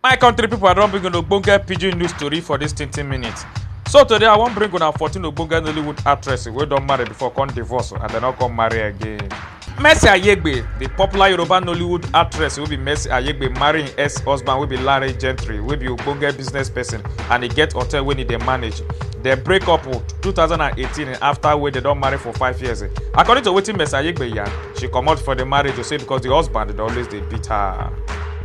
my country pipo i don bring una ogbonge pidgin news tori for dis tintin minutes so today i wan bring una 14 ogbonge nollywood actress wey don marry before come divorce and dem no come marry again mercy ayegbe di popular yoruba nollywood actress wey be mercy ayegbe marry im ex husband wey be larry gentry wey be ogbonge business person and e get hotel wey e dey manage dem break up 2018 afta wey dem don marry for five years according to wetin mercy ayegbe yarn she comot for the marriage to say because the husband dey always dey beat her.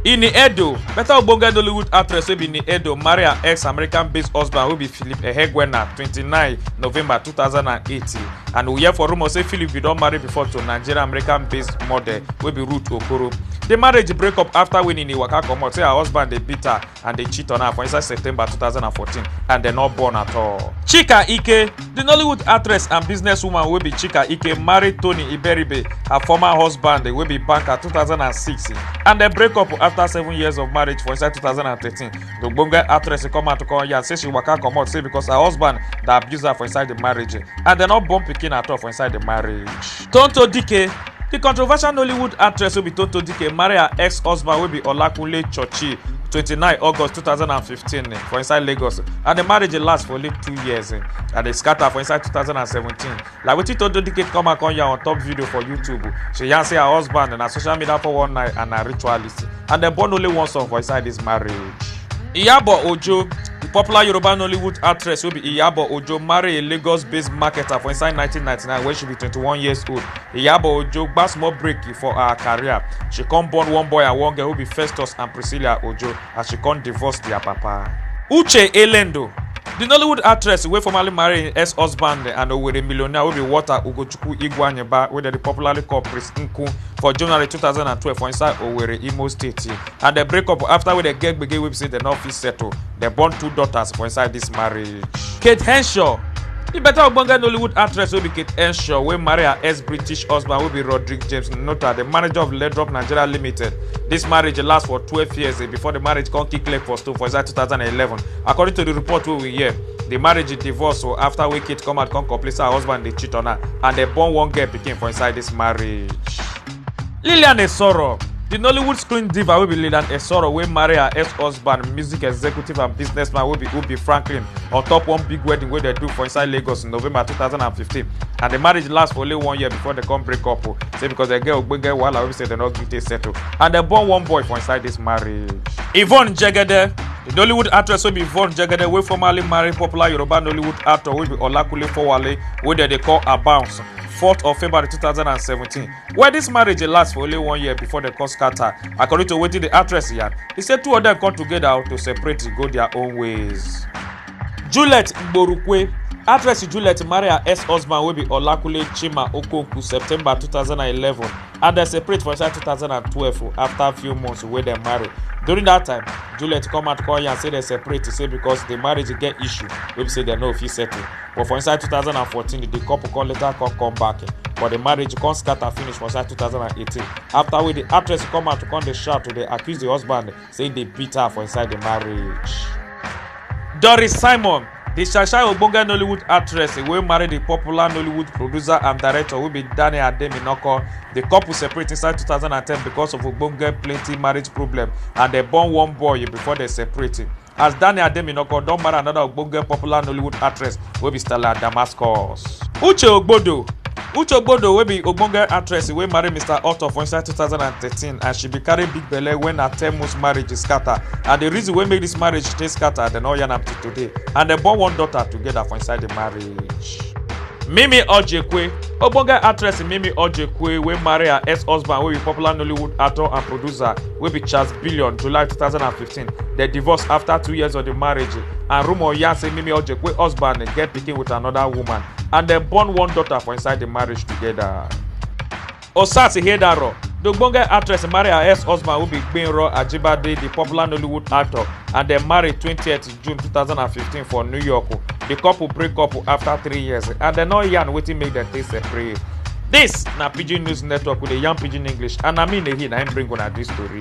Ini Edo, better ogbonge Nollywood actress wey be Ini Edo marry her ex-American-based husband wey be Philip Ehegwena 29 November 2008 and we hear for rumour say Philip bin don marry before to Nigerian-American-based model wey be Ruth Okoro. The marriage break up after wey Nini waka comot say her husband dey beat her and dey cheat on her for inside september 2014 and dem no born at all. chika ike di nollywood actress and businesswoman wey be chika ike marry tony iberibe her former husband wey be banker 2006 and dem break up afta seven years of marriage for inside 2013 di ogbonge actress come out to come yarn say she waka comot say becos her husband dey abuse her for inside di marriage and dem no born pikin at all for inside di marriage. Tonto Dike Di controversial Nollywood actress wey be Tonto Dike marry her ex-husband wey be Olakunle Chochi 29 August 2015 eh, for inside Lagos and di marriage dey last for only two years eh, and dey scatter for inside 2017. Like wetin Tonto Dike come out come yarn on top video for YouTube, she yarn say her husband na social media 419 and na ritualist and dem born only one son for inside dis marriage. Iyabo Ojo, the popular Yoruba Nollywood actress wey be Iyabo Ojo, marry a Lagos-based marketer for inside 1999 when she be 21 years old. Iyabo Ojo gba small break for her career. She come born one boy and one girl wey be Festus and Priscilla Ojo as she come divorce their papa. Uche Elendo, the Nollywood actress wey formerly marry im ex-husband and Owerri millionaire wey be Walter Ugochukwu Igweanyiba wey dem dey popularly call Prince Nku for January 2012 for inside Owerri, Imo State. and dem break up after wey dem get gbege wey be say dem no fit settle dem born two daughters for inside dis marriage. kate henshaw di beta ogbonge nollywood actress wey be kate henshaw wey marry her ex-british husband wey be roderick james nota di manager of ledrop nigeria limited dis marriage last for twelve years eh, before di marriage come kick leg for stone for inside two thousand and eleven according to di report wey we hear di marriage divorce o afta wey kate come out come complain say her husband dey cheat on her and dem born one girl pikin for inside dis marriage. lillian esoro di nollywood screen diva wey be lillian esoro wey marry her ex-husband music executive and businessman wey be ubi franklin on top one big wedding wey dem do for inside lagos in november 2015 and di marriage last for only one year before dem come break up o say because dem get ogbonge wahala wey be say dem no gree take settle and dem born one boy for inside dis marriage. yvonne jegede di nollywood actress wey be yvonne jegede wey formerly marry popular yoruba nollywood actor wey be olakunle fowale wey dem dey call abounce 4th of February 2017. Where this marriage dey last for only one year before dem come scatter. According to wetin the actress yarn, e say two of dem come together to separate go their own ways. Juliet Igborukwe Actress Juliet marry her ex-husband wey be Olakunle Chima Okonkwo September 2011 and dem separate for inside 2012 after few months wey dem marry. During that time, Juliet come out come yarn say dem separate say because the marriage get issue wey be say dem no fit settle. but for inside 2014 di couple come later come come back but di marriage come scatter finish for inside 2018 afta wey di actress come out to come dey shout to dey accuse di husband say e dey beat her for inside di marriage. doris simon di shashai ogbonge nollywood actress wey marry di popular nollywood producer and director wey be daniel ademinoko di couple separate inside 2010 becos of ogbonge plenty marriage problem and dem born one boy before dem separate. as Daniel Ademinoko don marry another ogbonge popular Nollywood actress wey be Stella Damascus. Uche Ogbodo Uche Ogbodo wey be ogbonge actress wey marry Mr. Otto for inside 2013 and she bin carry big belle wen her 10 months marriage scatter and the reason wey make this marriage take scatter dem no yarn am till today and dem born one daughter together for inside the marriage. Mimi Ojekwe Ogbonge actress Mimi Ojekwe wey marry her ex-husband wey be popular Nollywood actor and producer wey be Charles Billion July 2015 They divorce after two years of the marriage, and rumor yarn say Mimi Ojekwe husband get pikin with another woman, and dem born one daughter for inside the marriage together. Osas Ihedaro, the ogbonge actress marry her ex-husband who be Gbenro Ajibade, the popular Nollywood actor, and dem marry 20th June 2015 for New York. The couple break up after three years, and dem no yarn wetin make dem take separate. This na Pidgin News Network with the Young Pidgin English, and na me Nehi na him bring una this story.